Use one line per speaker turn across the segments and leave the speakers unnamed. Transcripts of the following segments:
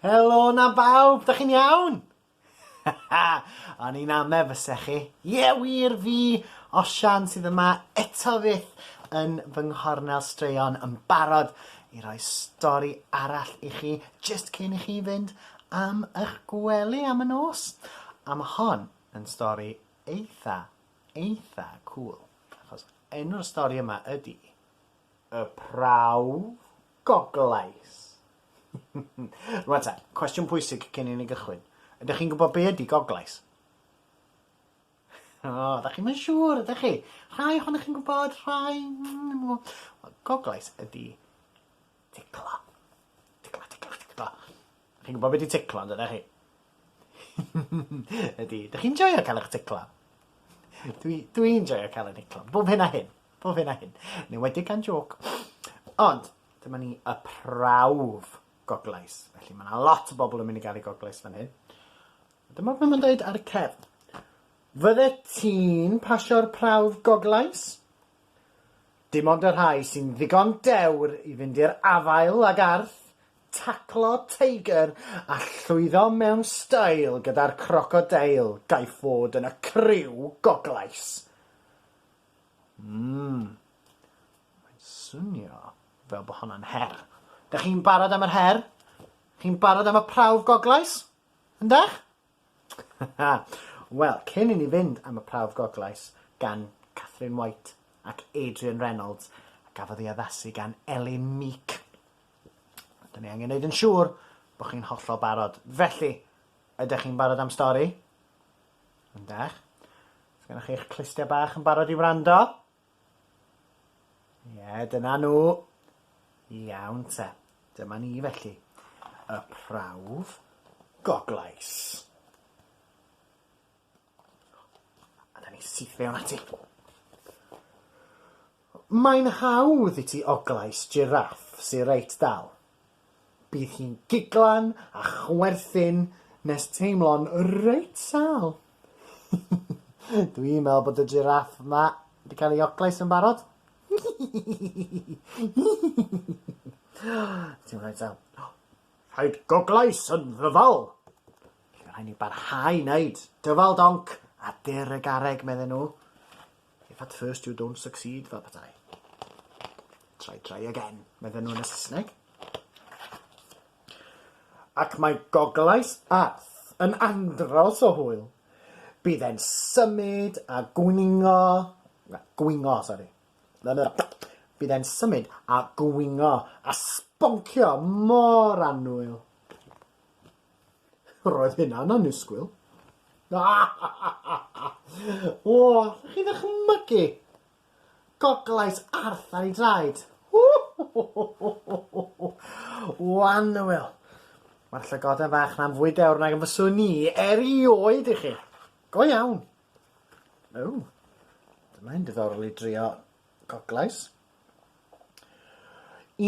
Helo na bawb, da chi'n iawn? O'n i'n ame fyse chi. Ie, yeah, wir fi, Osian sydd yma eto fyth yn fy nghornel straeon yn barod i roi stori arall i chi just cyn i chi fynd am eich gwely am y nos. A mae hon yn stori eitha, eitha cool. Achos Enw'r stori yma ydi Y Prawf Goglais. Rwan ta, cwestiwn pwysig cyn i ni gychwyn. Ydych chi'n gwybod be ydi Goglais? O, oh, ydych chi'n mynd siŵr, ydych chi? Rhai ohonych chi'n gwybod, rhai... Goglais ydi Ticlo. Ticlo, ticlo, ticlo. Chi'n gwybod be di ticlo, yn dydych chi? Ydy. Dych chi'n joio cael eich ticlo? Dwi, dwi'n joio cael eich ticlo. Bob hyn a hyn. Bob hyn a hyn. Neu wedi gan joc. Ond, dyma ni y prawf goglais. Felly mae yna lot o bobl yn mynd i gael ei goglais fan hyn. Dyma beth mae'n dweud ar y cefn. Fydde ti'n pasio'r prawf goglais? Dim ond y rhai sy'n ddigon dewr i fynd i'r afael ag arth, taclo teigr a llwyddo mewn stêl gyda'r crocodeil gaiff fod yn y criw goglais. Mm. Mae'n swnio fel bod honna'n her. Dych chi'n barod am yr her? Chi'n barod am y prawf goglais? Yndych? Wel, cyn i ni fynd am y prawf goglais gan Katherine White ac Adrian Reynolds a gafodd ei addasu gan Elin Meek, da ni angen neud yn siŵr bod chi'n hollol barod. Felly, ydych chi'n barod am stori? Yndych. Sgennoch chi eich clustia bach yn barod i wrando? Ie, dyna nhw. Iawn te. Dyma ni felly. Y prawf goglais. A da ni syth fewn ati. Mae'n hawdd i ti oglais jiráff sy reit dal. Bydd hi'n giglan a chwerthin nes teimlo'n reit sâl. Dwi'n meddwl bod y jiráff 'ma 'di cael ei oclais yn barod. Ti'n rhaid sâl. Rhaid goglais yn ddyfal! Felly rhaid ni barhau wneud dyfal donc a dur y garreg, medden nhw. If at first you don't succeed, fel petai. Try, try again, medden nhw yn y Saesneg. Ac mae goglais arth yn andros o hwyl. Bydd e'n symud a gwningo... Na, gwingo, sori. Bydd e'n symud a gwingo a sboncio mor annwyl. Roedd hynna'n annisgwyl. O, chi ddychmygu? Goglais Arth ar ei draed. O, anwyl. Mae'r llygoden fach na'n fwy dewr nag yn fyswn i erioed i chi. Go iawn. O, dyma'n diddorol i drio goglais.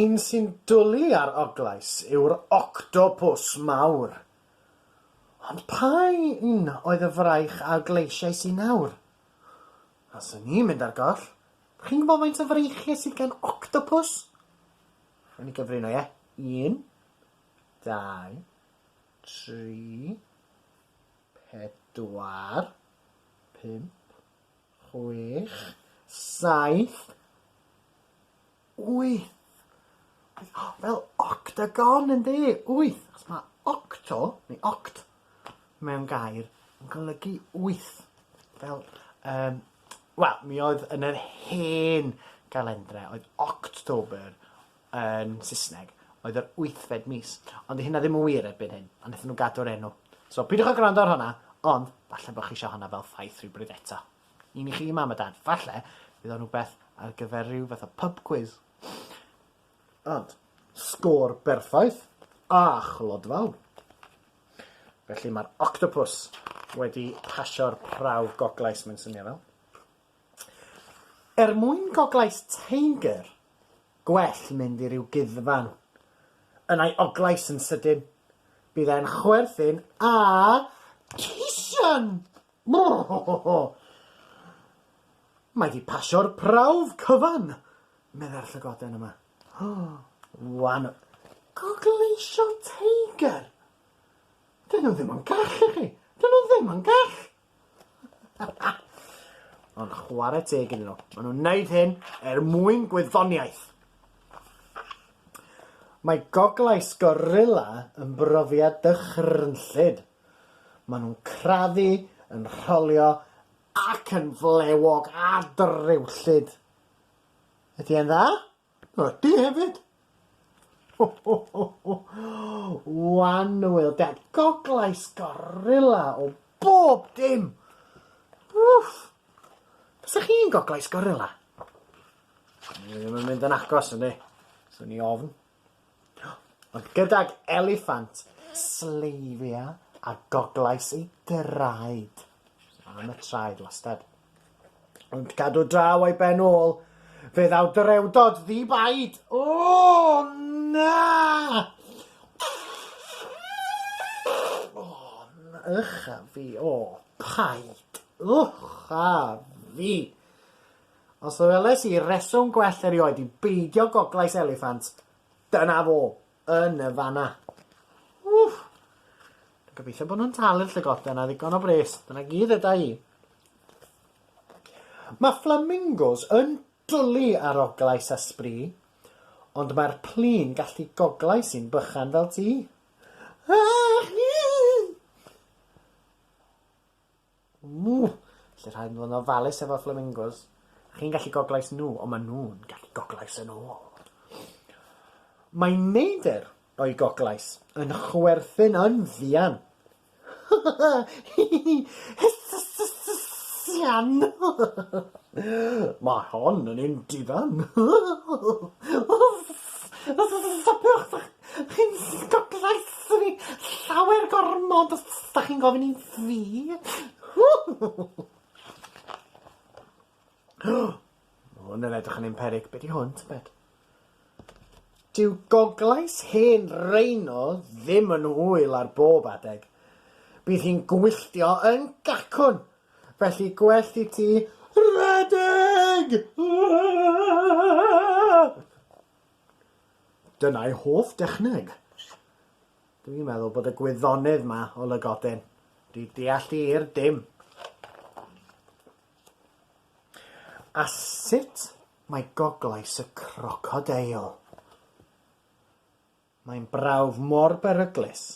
Un sy'n dwlu ar Oglais yw'r octopws mawr. Ond pa un oedd y fraich a ogleisiais i nawr? A os o'n i'n mynd ar goll, chi'n gwybod faint o freichiau sydd gan octopws? Rhaid ni gyfrino, ie? Un, dau, tri, pedwar, pump, chwech, saith, wyth. Fel octagon yndi? Wyth. Achos mae octo, neu oct, mewn gair yn golygu wyth. Fel, um, wel, mi oedd yn yr hen galendra, oedd October yn Saesneg, oedd yr wythfed mis, ond 'di hynna ddim yn wir erbyn hyn, ond wnaethon nhw gadw'r enw. So, peidiwch â gwrando ar honna, ond falle bod chi eisiau honna fel ffaith rhywbryd eto. Un i chi, Mam a Dad, falle bydd o'n rhywbeth ar gyfer rhyw fath o pub quiz. Ond, sgôr berffaith a chlodfawr. Felly mae'r octopws wedi pasio'r prawf goglais, mae'n swnio fel. Er mwyn Goglais Tanger, gwell mynd i ryw guddfan. Yn ei oglais yn sydyn, bydd e'n chwerthin a cisian! Mae 'di pasio'r prawf cyfan, meddai'r llygoden yma. Wan! Gogleisio Tanger? Dyn nhw ddim yn gall i chi! Dyn nhw ddim yn gall! Ond chwarae teg iddyn nhw. Maen nhw'n wneud hyn er mwyn gwyddoniaeth. Mae goglais gorilla yn brofiad dychrynllyd. Maen nhw'n crafu, yn rholio ac yn flewog a drewllyd. Ydy e'n dda? O, ti hefyd? Ho, ho, ho, ho. Wan, Wil, dad, goglais gorilla o bob dim. Wff. Fysa chi'n goglais gorilla? Ni ddim yn mynd yn agos, ynddi? Swn i ofn. Ond gydag eliffant, sleifia a goglais ei draed. Am y traed, wastad. Ond cadw draw o'i ben ôl, fe ddaw drewdod ddi-baid. O, na! O, na, ych a fi, o, paid, ych a fi. Os weles i reswm gwell erioed i beidio goglais eliffant, dyna fo, yn y fanna. Wff! Dwi'n gobeithio bod nhw'n talu'r llygoden a ddigon o bres, dyna gyd eda i. Mae fflamingos yn dwlu ar oglais a sbri, ond mae'r plun gallu goglais i'n bychan fel ti. Ach! Ww! Felly rhaid fod yn ofalus efo'r fflamingos. Chi'n gallu goglais nhw, ond maen nhw'n gallu goglais yn ôl. Mae neidr o'i goglais yn chwerthin yn fuan. Hysbysian! Mae hon yn un difan. Stopiwch! Chi'n stwprais i fi llawer gormod os da chi'n gofyn i fi. Ma' hwn yn edrych yn un peryg. Be' 'di hwn tybed? Dyw goglais hen Rhino ddim yn hwyl ar bob adeg. Bydd hi'n gwylltio yn gacwn, felly gwellt i ti redeg! Dyna'i hoff dechneg. Dwi'n meddwl bod y gwyddonydd ma o Lygoden wedi deall hi i'r dim. A sut mae goglais y crocodeil? Mae'n brawf mor beryglus,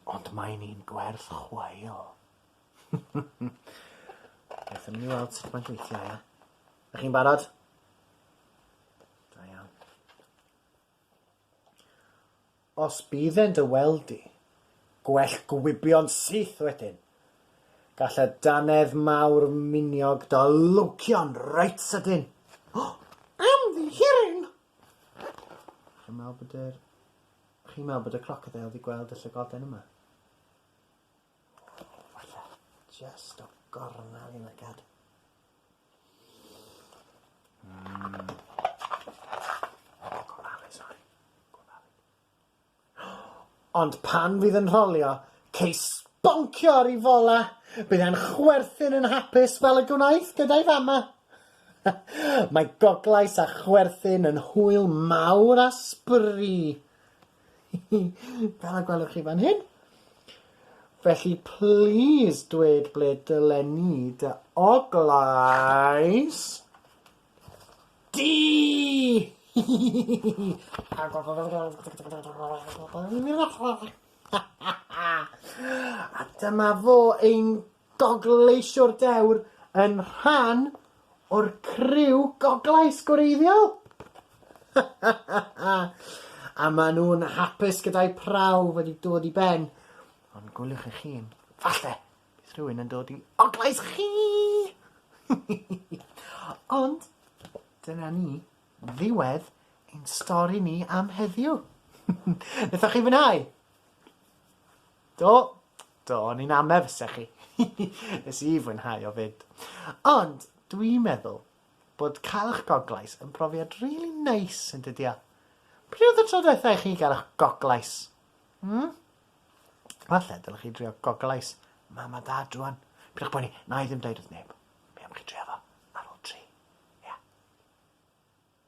ond mae'n un gwerth chweil. Aethwn ni weld sut mae'n gweithio, ia? Ych chi'n barod? Da iawn. Os bydden dy weld di, gwell gwibion syth wedyn. Gall y dannedd mawr miniog dy lwcio'n reit sydyn. O! Ymddiheurin! Chi'n meddwl bod yr... Chi'n meddwl bod y crocodile wedi gweld y llygoden yma? Walla, just o gornel i lygad. Ond pan fydd yn rholio, ceis sboncio ar ei fola, bydd e'n chwerthin yn hapus fel y gwnaeth gyda'i fama. Mae goglais a chwerthin yn hwyl mawr a sbri. Fel y gwelwch chi fan hyn. Felly, please dweud ble dylen ni dy oglais di! A dyma fo, ein Gogleisio'r dewr yn rhan o'r criw goglais gwreiddiol! A maen nhw'n hapus gyda'u prawf wedi dod i ben. Ond gwyliwch eich hun, falle bydd rhywun yn dod i oglais chi! Ond dyna ni, ddiwedd ein stori ni am heddiw. Wnaethoch chi fwynhau? Do? Do, o'n i'n ame fysa chi. Nes i fwynhau o 'fyd. Ond dwi'n meddwl bod cael 'ych goglais yn profiad rili neis, yn dydi o? Pryd oedd y tro dwetha i chi gael 'ych goglais? Hmm? Falle dylech chi drio goglais mam a dad rwan. Pidwch poeni, na i ddim deud wrth neb. Mi am chi drio fo ar ôl tri. Ia?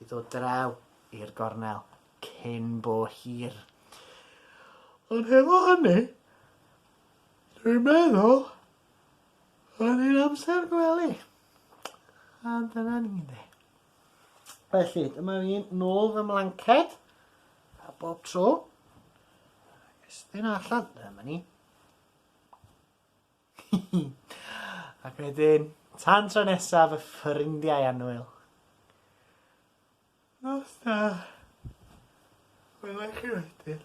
i ddod draw i'r gornel cyn bo hir. Ond hefo hynny, dwi'n meddwl oedd hi'n amser gwely. A dyna ni ynde. Felly, dyma fi'n nôl fy mlanced, a bob tro, ac estyn allan, dyma ni. Ac wedyn, tan tro nesaf y ffrindiau annwyl. Nos da. Wela i chi wedyn.